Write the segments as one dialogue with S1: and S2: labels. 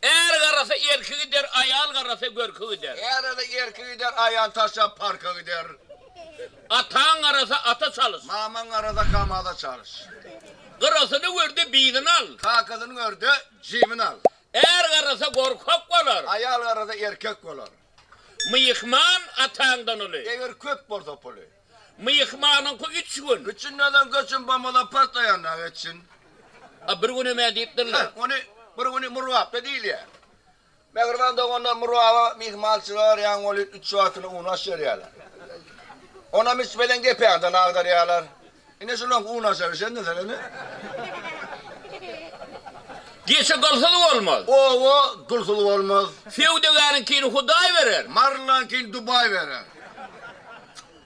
S1: Är garasa erki gider, aýal garasa görki gider. Är garasa erki gider,
S2: aýal taşlap parka gider. Ataň
S1: garasa ata çalyş. Mamaň garasa
S2: kamaza çalyş. Gyrasyny
S1: gör-de bizini al. Kakasyny gör-de
S2: jibini al. Är garasa
S1: gorkak bolar. Aýal garasa erkek
S2: bolar. Myhman
S1: ataňdan uly. Eger köp bolsa
S2: puly. Myhmanyňky
S1: üç gün. Üç günden soň göçün
S2: bamala partlaýanda geçsin. A bir gün
S1: hem-ä diýipdirler. Hä, ony bir güni
S2: Murgapda diýilýär. Mähriban doganlar Murgaba myhmançylyga barýan welin üç wagtyna un-aş berýärler. Onam içmeden gepäden agdarýarlar. Ine şulan un aşar şende sen ene.
S1: Geçi gylsyz bolmaz. Oba gülsüz
S2: bolmaz. Söwdagäriňkini
S1: Hudaý berer. Marlaňkini Dubaý
S2: berer.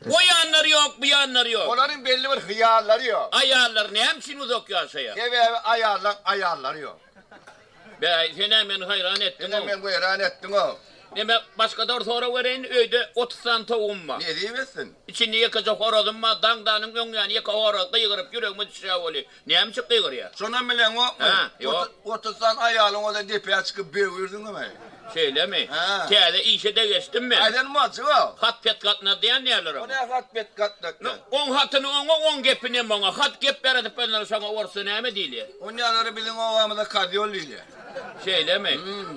S1: O ýanlary ýok, bu ýanlary ýok. Olaryň belli bir hyýallary
S2: ýok. Aýallar näme üçin
S1: uzak ýaşaýar? Sebäbi aýallaň
S2: aýallary ýok. Bäý,
S1: sen-ä meni haýran etdiň-ow. Sen-ä meni weýran etdiň-ow.
S2: Ine, başga-da
S1: bir sorag bereýin, öýde otuz sany towugym bar. Nesip etsin. Içinde
S2: ýekeje
S1: horazym bar. Daňdanyň öňýany ýeke horaz gygyryp, ýüregime düşýär weli. Näme üçin gygyrýar? Şonam bileňokmy? Hä,
S2: ýok.
S1: Otuz sany aýalyň
S2: bolsa depä çykyp böwürdin-mi? Şeýlemi?
S1: Hä. Täze işe-de
S2: geçdim
S1: men. Aýdan bolçy bu. Hat
S2: pet gatnady diýen
S1: näler oňa? Onä hat pet
S2: gatnak diýen. Oň hatyny
S1: oňa, oň gepini hem oňa. Hat gep beredip bilner, şoňa orsça näme diýilýär? Onýalary biziň
S2: obamyzda kozýol diýilýär. Şeýlemi?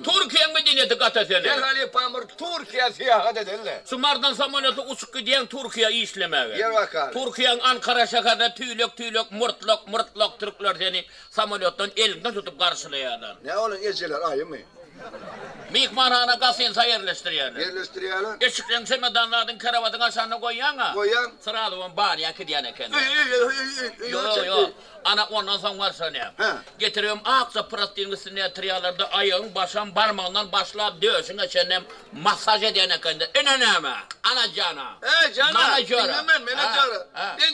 S1: Turkiýaň medenýeti gata seni. Gel halypam bir
S2: Turkiýa syýahat edeli. Şu mardan samolýotly
S1: uçup gidýäň Turkiýa işlemäge. Ýer bakarly. Turkiýaň
S2: Ankara
S1: şäherine tüýlek-tüýlek murtlak, myrtlak türkler seni Samolýotdan eliňden tutup garşylaýarlar. Nä bolan ejeler
S2: aýymy?
S1: Myhmanhana gasinsä ýerleşdirýärler. Ýerleşdirýärler.
S2: Eşikleň çemedanlaryny
S1: krowatyň aşagynda goýýaň-a. Goýýaň. Srazu on
S2: barýa
S1: kidýän eken. Öýe, öýe, öýe, öýe,
S2: öýe, öýe Ýok, çekdi. ýok. Ana,
S1: ondan soň barşanýaň. Hä. Getiribem
S2: akja
S1: prostynyň üstünde ýatyrýarlar-da, aýagyň başam barmagyndan başlap döşüňe çenlem massaž edýän ekender. Ine näme, ana jana. He, jana, Manažera.
S2: diňleme,
S1: menažera.
S2: Hä, hä. Diň.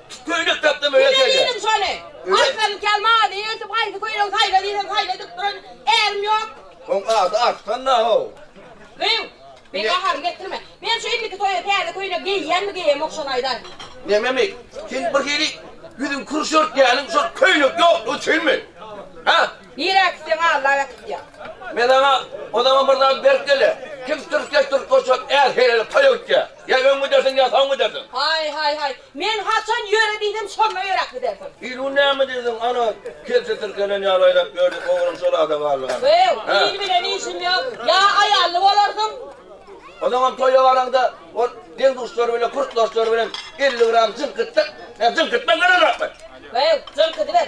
S3: Köýnek tapdama
S2: öýe kel diýdim şony.
S3: Arslan kel maly öýtüp haýsy köýnegi saýla diýseň saýla edip duran ärim ýok. Oň ady
S2: Arslan-da how. Gyw, men
S3: gaharyny getirme. Men şu indiki toýa täze köýnek geýýänmi geýemok şony aýdaý. Nememik,
S2: sen bir hili ýüzüň kürüş örtýäniň şol köýnek ýoklugy üçinmi? Hä? Nirä gitseň
S3: allap äkitýär. Men saňa
S2: o zaman bir zat berip gelä. Kim türke türke şol är helele toýa gitýär. Ýa öň gidersiň, ýa soň gidersiň. Haý, haý, haý.
S3: Men haçan ýöre diýsem, şonda ýöräp gidersiň. Il bu näme diýseň,
S2: ana, Kelçe tirkelen ýaly aýlap ýördi, ogluň şol ady galdy gana. Wew, il bilen
S3: işim ýok. Ýa aýally bolarsyň. Ozaňam
S2: toýa baraňda, ol deň-duşlary bilen, kurt-dostlary bilen elli gram jyňkytsak, men jyňkytmak bilen ojakman. Wew, jyňkydyber.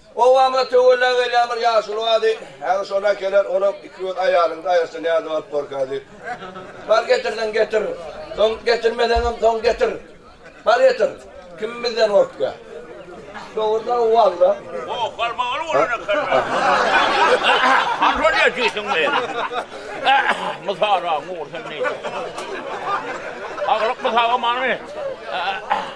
S2: Obama töwella gelýän bir ýaşuly bardy. Häzir şony äkeler, onam iki göz aýalyňda aýaşsa nädip alyp borka diýip. Bar getirseň getir. Soň getirmeseňem soň getir. Bar getir. Kim bizden gorkýa. Dogrudan walla. Goh galmagaly
S1: bolan eken men. Handan ýetýsiň men. Mysala, Nur sen neýtseň. Aglyk mysaga many.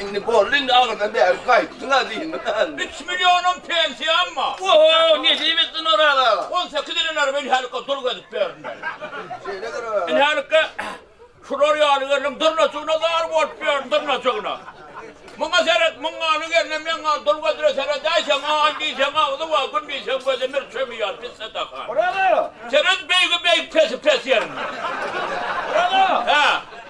S2: Indi boldy, indi agyrdan bäri gaýtdyň-a diýdim. Üç millionym
S1: pensiýam bar. Oho, ne diýip
S2: etdin Oraz aga? On sekiz ýylynam
S1: inhälikka dul gezip berdim men. Şeýle gerek
S2: aga. Inhälikka
S1: şular ýaly gelniň dyrnajygyna zar bolup berdim, dyrnajygyna. Muňa seret, muň ýaly gelnem meň ýaly dul gezire seredäýseň, aý diýseň agzy bar, gün diýseň gözi mür çömi ýaly pis sadakan. Oraz aga! Seret
S2: beýigi
S1: beýik, pesi pes ýerinden. Oraz
S2: aga! Hä?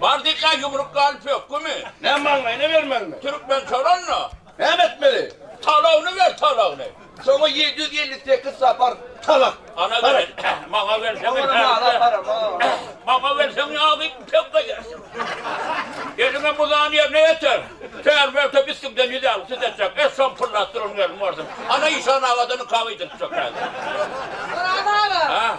S2: Bardyka ýumruk
S1: galyp hökümi. Näme maňlaýyna bermegmi?
S2: Türkmen çalanda.
S1: Näme etmeli?
S2: Talagyny ber,
S1: talagyny. Şoňa ýedi ýüz
S2: elli sekiz sapar talak. Ana beren,
S1: maňa berseň Maňa berseň ýagy pek begersin. Eliňe muzan ýerine ýeter. Kär bolsa biskimden ýüz elli süt etjek. Et şony pyllatdyr onuň elini görseň. Ana işan agadan ykab eýdirtjek häzir. Guram
S3: aga.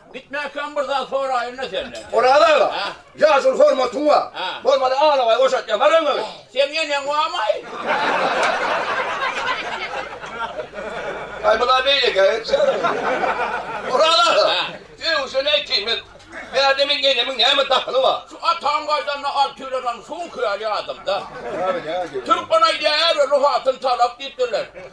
S2: Gitmäkem bir
S1: zat soraýyn-da senden. Oraz aga,
S2: ýaşuly hormatyň
S1: bar.
S2: Bolmasa alabaý
S1: goşatýan
S2: bar öňe. Seň eneň barmaý? Aý bula beýleki aýtýar. Oraz aga,
S1: söýgüsini aýtýyn
S2: men. Bärde meň enemiň näme dahyly bar? Şu ataň gaýdanda
S1: altylanam şuňky ýaly ýadyňda.
S2: Türkmen aýdýar,
S1: ärli hatyn talak diýipdirler.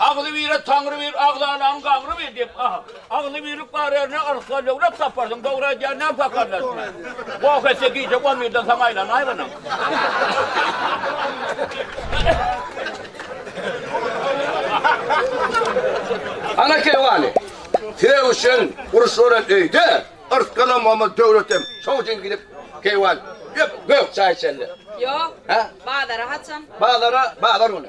S1: Agzybire Taňry bir, agzalaň gaňry bir diýip, aha, agzybirlik bar ýerine yrsgal, döwlet taparsyň, dogry aýdýar näme pakarlar içine. Goh etse gije on birden soň aýlanaý munyň.
S2: Ana keýwany, sögüşen, urşuran öýde yrsgalam bolmaz, döwletem şoň üçin gidip keýwan gök çaý içerler. Ýok. Hä?
S3: Bazara
S2: haçan? Bazara bazar
S3: güni.